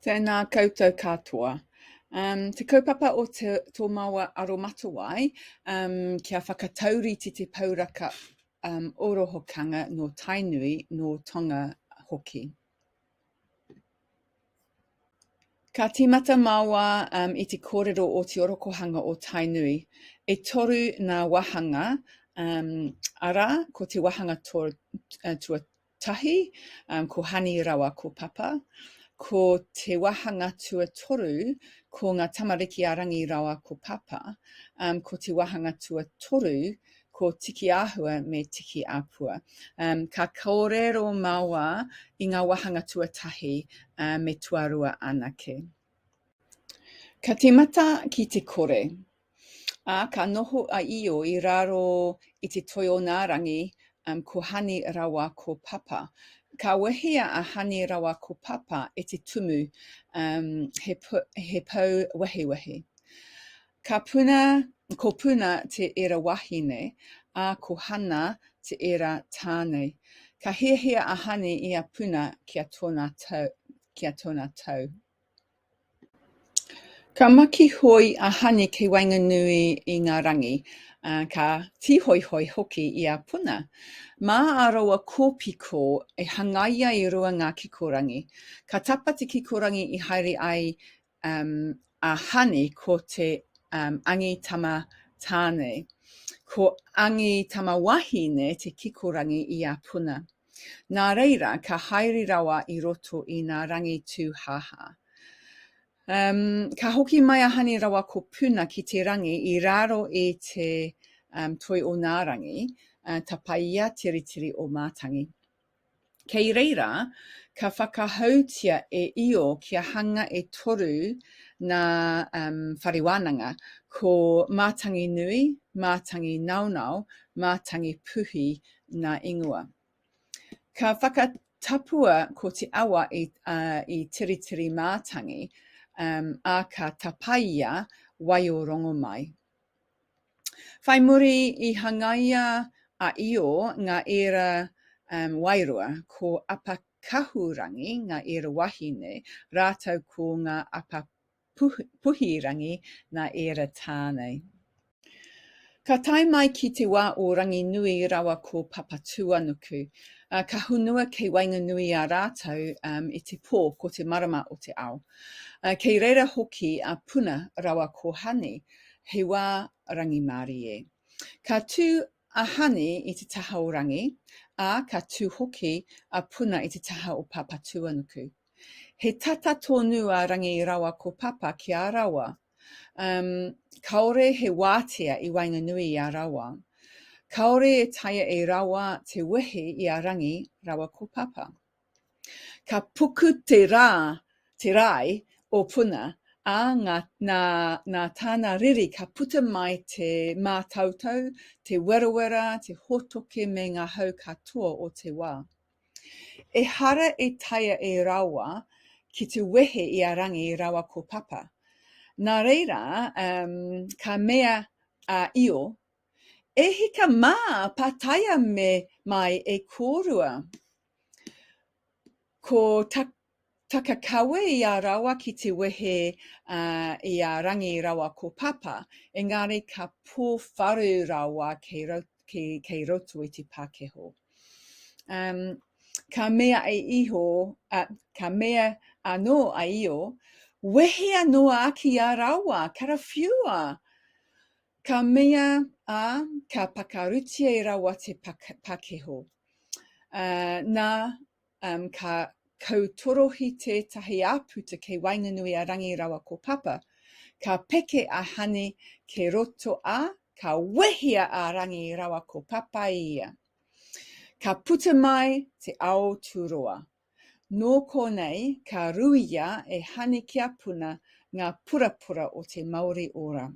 Tēnā koutou katoa. Um, te kaupapa o te, tō maua aromatawai, um, kia whakatauriti te pauraka um, orohokanga no Tainui, no Tonga hoki. Ka tīmata maua um, i te kōrero o te orokohanga o Tainui. E toru nā wahanga, um, ara, ko te wahanga to, uh, tua, tahi, um, ko Honey rawa ko Papa, ko te wahanga tuatoru ko ngā tamariki a Rangi rawa ko Papa, um, ko te wahanga tuatoru ko Tiki Āhua me Tiki Āpua. Um, ka kōrero māua i ngā wahanga tuatahi uh, me tuarua anake. Ka tīmata ki te kore. Ā, ka noho a Io i raro i te toi o nā rangi, um, ko Hani rawa ko Papa. Ka wehea a Hani rawa ko Papa e te tumu, um, he, he pou wehewehe. Ka puna, ko Puna te era wahine, ā, ko Hana te era tānei. Ka hiahia a Hani i a Puna ki a tōna tau. Ki a tōna tau. Ka makihoi a Hane kei waenganui i ngā rangi, ā, ka tīhoihoi hoki i a Puna. Mā ā raua kōpiko e hangaia i rua ngā kikorangi. Ka tapa te kikorangi i haere ai um, a Hane ko te um, angi tama tāne. Ko angi tama wahine te kikorangi i a Puna. Nā reira, ka haere rawa i roto i nā rangi tūhāhā. Um, ka hoki mai a Hane rawa ko Puna ki te rangi i raro i te um, toi o nā rangi, uh, tapaia te ritiri o Mātangi. Kei reira, ka whakahoutia e Io kia hanga e toru nā um, whare wānanga, ko Mātangi Nui, Mātangi Naonao, Mātangi Puhi, ngā ingoa. Ka whakatapua ko te awa i, uh, i Tiritiri Mātangi, um, a ka tapaia wai o rongo mai. Whai muri i hangaia a Io ngā ēra um, wairua, ko Apakahurangi ngā ēra wahine, rātou ko ngā Apa Puhirangi nā ēra tā nei. Ka tae mai ki te wā o Ranginui rawa ko Papatūanuku. Ka honua kei waenganui a rātou i te pō ko te marama o te ao. Kei reira hoki a Puna rawa ko Hani, he wā rangimārie. Ka tū a Hani i te taha o Rangi, ā, ka tū hoki a Puna i te taha o Papatūanuku. He tata tonu a Rangi rawa ko Papa ki a rawa. Um, kaore he wātea i waenganui i a rawa. Kaore e taea e rawa te wehi i a Rangi rawa ko Papa. Ka puku te rā, te rāi o Puna, ā, ngā, nā, nā tāna riri ka puta mai te mātautau, te werawera, te hotoke me ngā hau katoa o te wā. Ehara i taea e rawa ki tu wehe i a Rangi rawa ko Papa. Na reira, um, ka mea a Io, E hika ma, pataia me mai e korua. Ko ta, Whakakawe i a raua ki te wehe i a Rangi raua ko Papa, engari ka pōwharu raua kei roto i te pākeho. Ka mea a Iho, ka mea anō a Io, Wehe anō āki a raua, karawhiua! Ka mea, ā, ka pakarutia e raua te pākeho. Nā, Um, ka kautorohi tētahi āputa kei waenganui a Rangi rawa ko Papa. Ka peke a Hani ke roto a, ka wehia a Rangi rawa ko Papa i ia. Ka puta mai te ao tūroa. Nō konei ka ruia e Hani ki a Puna ngā purapura o te Mauri Ora.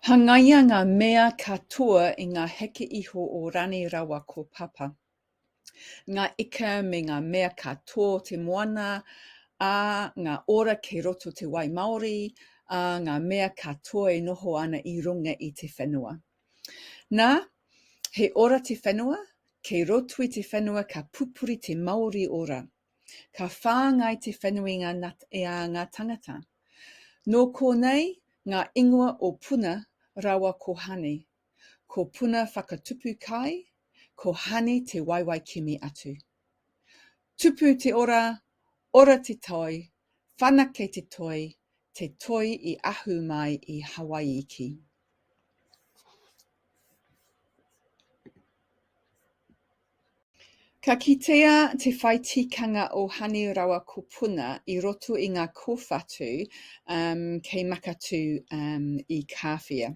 Hangaia ngā mea ka toa i ngā heke iho o Rani rawa ko Papa. Ngā ika me ngā mea ka toa o te moana, ā, ngā ora kei roto te wai māori, ā, ngā mea ka toa e noho ana i runga i te whenua. Nā, he ora te whenua, kei roto i te whenua ka pupuri te Māori ora. Ka whāngai te whanuinga na e ā ngā tangata. Nō kōnei ngā ingoa o Puna rawa ko Hani. Ko Puna whakatupu kai, ko Hani te waewae kimi atu. Tupu te ora, ora te toi, whanake te toi, te toi i ahu mai i Hawai'i ki. Ka kitea te whai tikanga o Hani rawa ko Puna i roto i ngā kōwhatu um, kei Makatū um, i Kāwhia.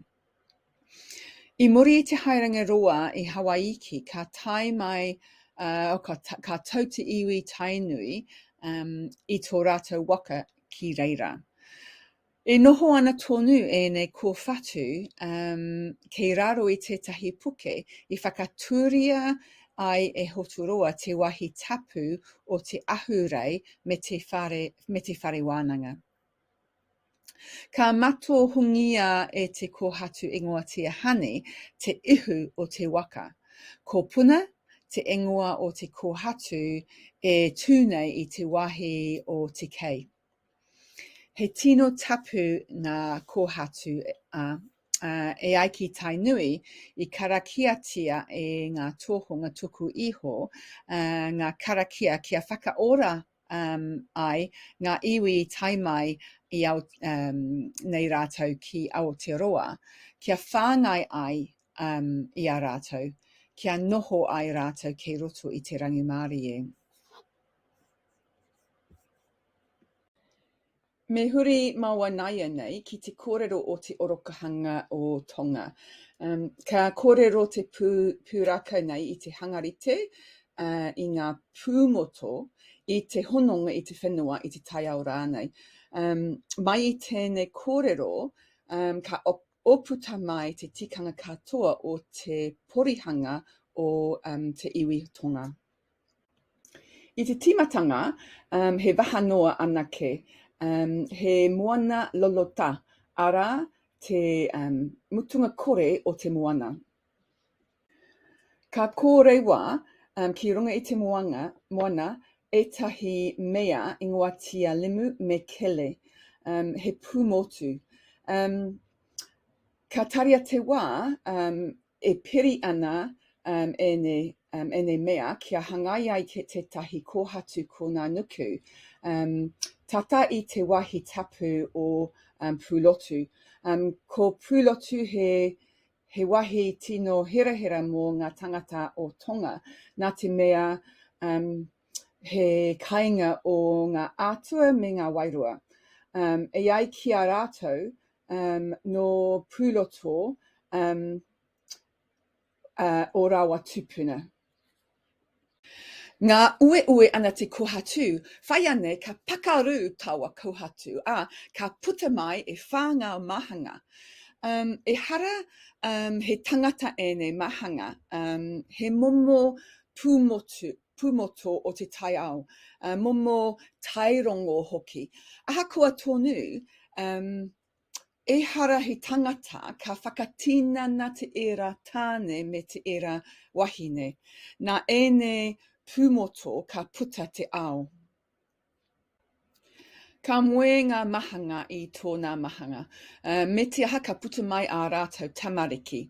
I muri i te haerenga roa i Hawaiki, ka tae mai, uh, ka, ta, ka tau te iwi Tainui um, i tō rātou waka ki reira. I noho ana tonu ēnei kōwhatu kei raro i tētahi puke i whakatūria ai e Hoturoa te wāhi tapu o Te Ahurei me te whare, me te whare wānanga. Ka matohungia e te kōhatu ingoa Tia Honey te ihu o te waka. Ko Puna te ingoa o te kōhatu e tū nei i te wāhi o Te Kei. He tino tapu ngā kōhatu e ai ki Tainui i karakiatia e ngā tōhunga tuku iho ngā karakia kia whakaora ai ngā iwi tae mai i nei rātou ki Aoteroa, kia whāngai ai i a rātou, kia noho ai rātou kei roto i te rangimārie. Me huri maua naianei ki te kōrero o te orokahanga o Tonga. Um, ka kōrero te pū, pūrākau nei i te hangarite, uh, i ngā pūmoto, i te hononga i te whenua, i te taiao rānei. Um, mai i tēnei kōrero, um, ka oputa mai te tikanga katoa o te porihanga o um, te iwi Tonga. I te tīmatanga, um, he waha noa anake, um, he moana lolotā, arā, te um, mutunga kore o te moana. Ka kōrei wā um, ki runga i te moanga, moana ētahi mea i ngoatia limu me kele, um, he pūmotu. Um, ka taria te wā, um, e piri ana ēnei mea kia hangai ai ki tētahi kōhatu kōnā nuku, tata i te wahi tapu o Pūlotu. Ko Pūlotu he wahi tino hirahira mō ngā tangata o Tonga, nā te mea he kainga o ngā atua me ngā wairua. E ai ki a rātou, um, nō Pūroto um, uh, o Rawa Tupuna. Ngā ueue ana te kohatu, whai ane ka pakaru tawa kohatu, a ka puta mai e whā ngā mahanga. Um, e hara um, he tangata ēnei mahanga, um, he momo pūmotu, pumoto o te taiao, uh, momo tairongo hoki. Ahakoa tonu, um, ehara he tangata ka whakatinana te era tāne me te era wahine. Nā ēnei pumoto ka puta te ao. Ka moe ngā mahanga i tōnā mahanga. Me te aha ka puta mai ā rātou tamariki.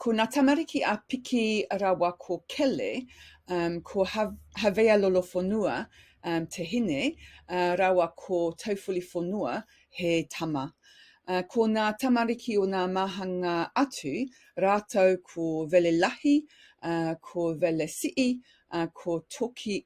Ko nā tamariki a Piki rawa ko Kele, ko Havea Lolofonua te hine, rawa ko Tauwholifonua he tama. Ko nā tamariki o nā mahanga atu rātou ko Velelahi, ko Velesi'i, ko Toki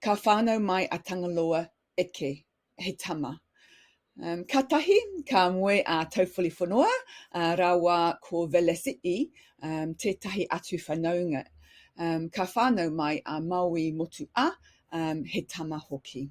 Ka whānau mai a Tangaloa eke, he tama. Um, katahi, ka moe a Tauwhaliwhanoa uh, rawa ko Velasi'i, um, tētahi atu whanaunga. Um, ka whānau mai a Maui Motu'a, um, he tama hoki.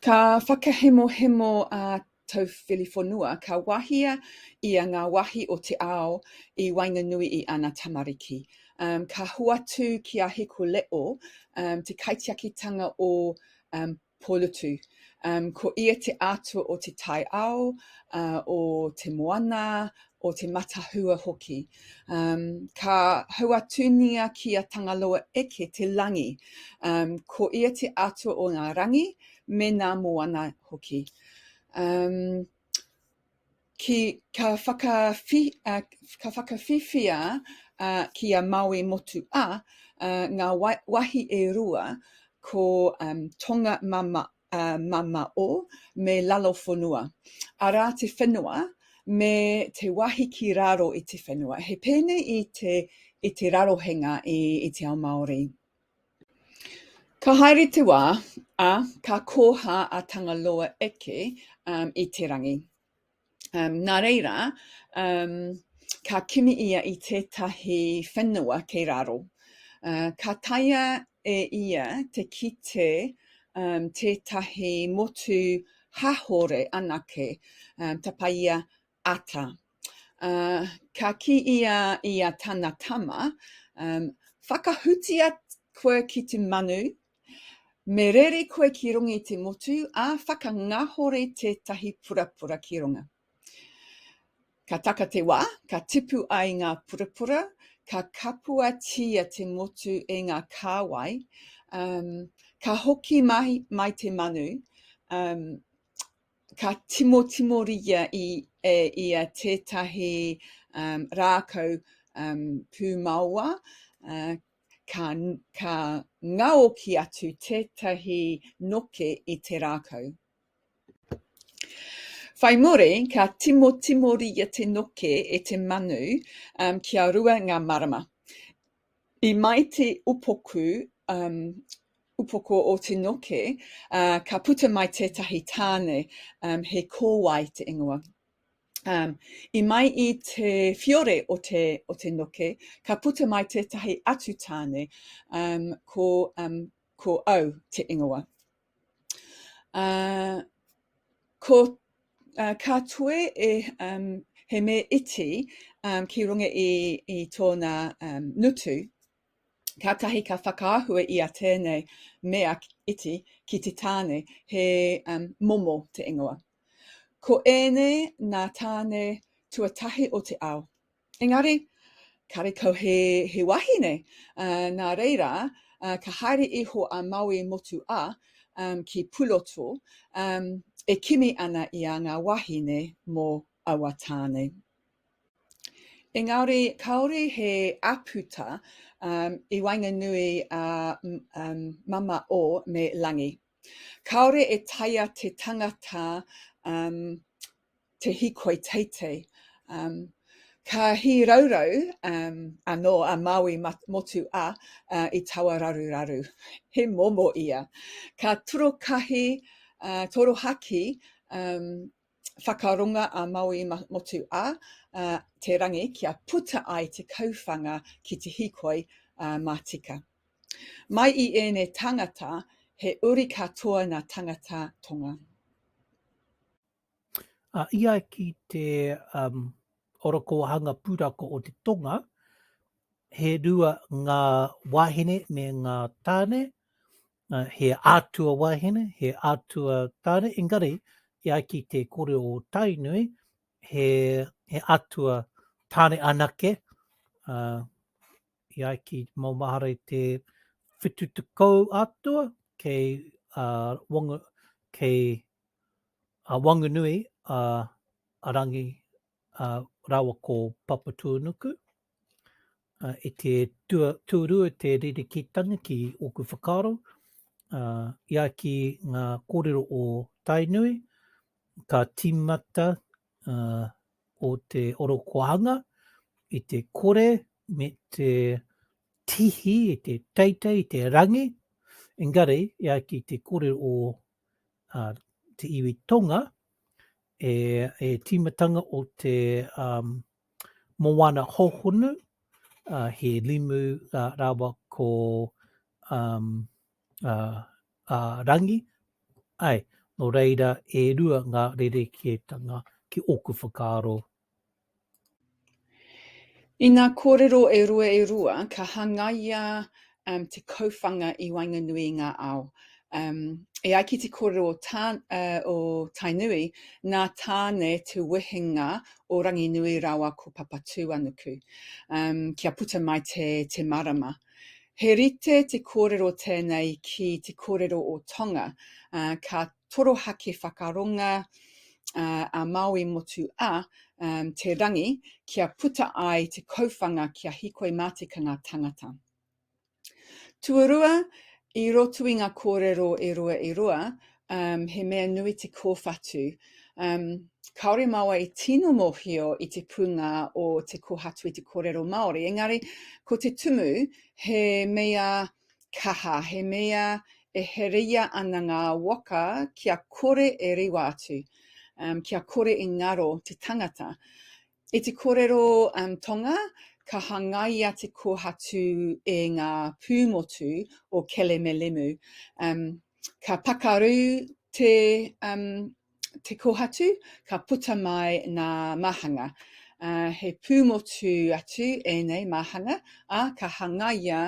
Ka whakahemohemo a Tauwhiliwhenua ka wahia ia ngā wahi o te ao i waenganui i ana tamariki. Um, ka hoatu ki a Hiko Leo um, te kaitiakitanga o um, Pōlutu. Um, ko ia te atua o te taiao, uh, o te moana, o te matahua hoki. Um, ka hauatunia ki a Tangaloa Eke te langi. Um, ko ia te atua o ngā rangi me ngā moana hoki. Um, ki, ka, whakawhi, uh, ka whakawhiwhia uh, ki a Maui Motu A uh, ngā wahi e rua ko um, Tonga Mama mamao me lalofonua, arā te whenua me te wahi ki raro i te whenua. He pēnei i te, i te rarohenga i, i te ao Māori. Ka haere te wā, ā, ka kōhā a Tangaloa eke um, i te rangi. Um, nā reira, um, ka kimi ia i tētahi whenua kei raro. Uh, ka taia e ia te kite um, tētahi motu hahore anake, um, tapaia ata. Uh, ka ki ia i a tana tama, um, whakahutia koe ki te manu, Me rere koe ki runga i te motu, ā, whakangahore tētahi purapura ki runga. Ka taka te wā, ka tipu ai ngā purapura, ka kapuatia te motu e ngā kāwai, um, ka hoki mai, mai te manu, um, ka timotimoria i, e, ia tētahi um, rākau um, pūmaoa, uh, ka, ka ngaoki atu tētahi noke i te rākau. Whai muri, ka timotimoria te noke e te manu um, kia rua ngā marama. I mai te upoku, um, upoko o te noke, uh, ka puta mai tētahi tāne, um, he kōwae te ingoa. Um, I mai i te fiore o te, o te noke, ka puta mai tētahi atu tāne, um, ko, um, ko au te ingoa. Uh, ko, uh, ka toe e, um, he me iti um, ki runga i, i tōna um, ngutu, kātahi ka whakaahua i a tēnei mea iti ki te tāne, he um, momo te ingoa. Ko ēnei ngā tāne tuatahi o te ao. Engari, karekau he, he wahine, uh, nā reira, uh, ka haere iho a Maui Motu A um, ki Puloto, um, e kimi ana i a ngā wahine mō aua tāne. Engari, kāore he aputa um, i waenganui a um, Mama O me Langi. Kāore e taea te tangata um, te hikoi teitei. Um, ka hīraurau um, anō a Maui motu a uh, i taua raruraru. He momo ia. Ka torokahi, uh, torohaki um, whakaronga a Maui Motu a Te Rangi kia puta ai te kauwhanga ki te hikoi matika. Mai i ēnei tangata, he uri katoa na tangata tonga. A ia ki te um, orokohanga purako o te tonga, he rua ngā wāhine me ngā tāne, He atua wahine, he atua tare, engari i ai ki te kore o Tainui, he, he atua tare anake, uh, i ai ki maumahara i te whitu te kou atua, kei, uh, wangu, kei uh, Wangunui a, a Rangi ā, rāua ko Papatūānuku, ā, i te tua, tūrua te ririkitanga ki ōku whakaaro, ā, i a ki ngā kōrero o Tainui, ka tīmata, ā, o te orokohanga i te kore me te tihi, i te teitei, i te rangi, engari, i a ki te kōrero o uh, te iwi tonga, e, e tīmatanga o te um, moana hohonu, uh, he limu uh, rawa ko um, uh, uh, rangi, ai, no reira e rua ngā rerekētanga ki ōku whakaaro I ngā kōrero e rua e rua, ka hangaia te kauwhanga i waenganui i ngā ao. E ai ki te kōrero o Tainui, nā Tāne te wehenga o Ranginui rāua ko Papatūānuku, kia puta mai te marama. He rite te kōrero tēnei ki te kōrero o Tonga, ka torohake whakaronga a Māui Motu a, um, te rangi kia puta ai te kauwhanga kia hikoi mā te kanga tangata. Tuarua, i roto i ngā kōrero e rua e rua, um, he mea nui te kōwhatu. Um, kāore māua e tino mōhio i te pūngā o te kōhatu i te kōrero Māori, engari ko te tumu he mea Kaha, he mea e hereia ana ngā waka kia kore e riwa atu, um, kia kore e ngaro te tangata. I te korero um, tonga, ka hangaia te kohatu e ngā pūmotu o Kelemelemu. Um, ka pakaru te um, te kohatu ka puta mai nā māhanga. Uh, he pūmotu atu ēnei māhanga, a uh, ka hangaia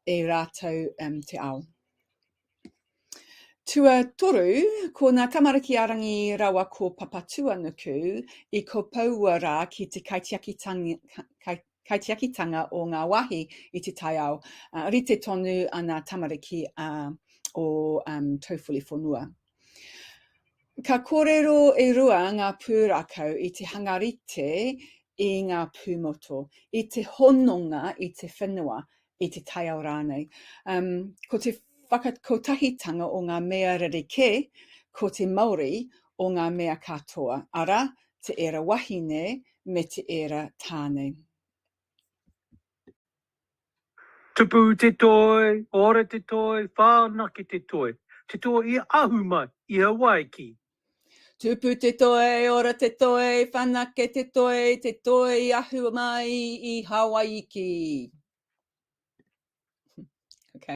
e rātou um, te ao. Tua toru, ko nā tamariki a Rangi rawa ko Papatuanuku i kopoua rā ki te kaitiakitanga, kai, kaitiakitanga o ngā wāhi i te taiao, uh, rite tonu ana tamariki a uh, o um, Tauwhuli Whenua. Ka kōrero e rua ngā pūrākau i te hangarite i ngā pūmoto, i te hononga i te whenua, i te taiao rānei. Um, ko te whakakotahitanga o ngā mea rerekē, ko te mauri o ngā mea katoa, ara, te era wahine me te era tāne. Tupu te toi, ora te toi, whānaki te toi, te toi i ahu mai, i hawaiki, Tupu te toe, ora te toe, whanake te toe, te toe i ahu mai i Hawaiki. Okay.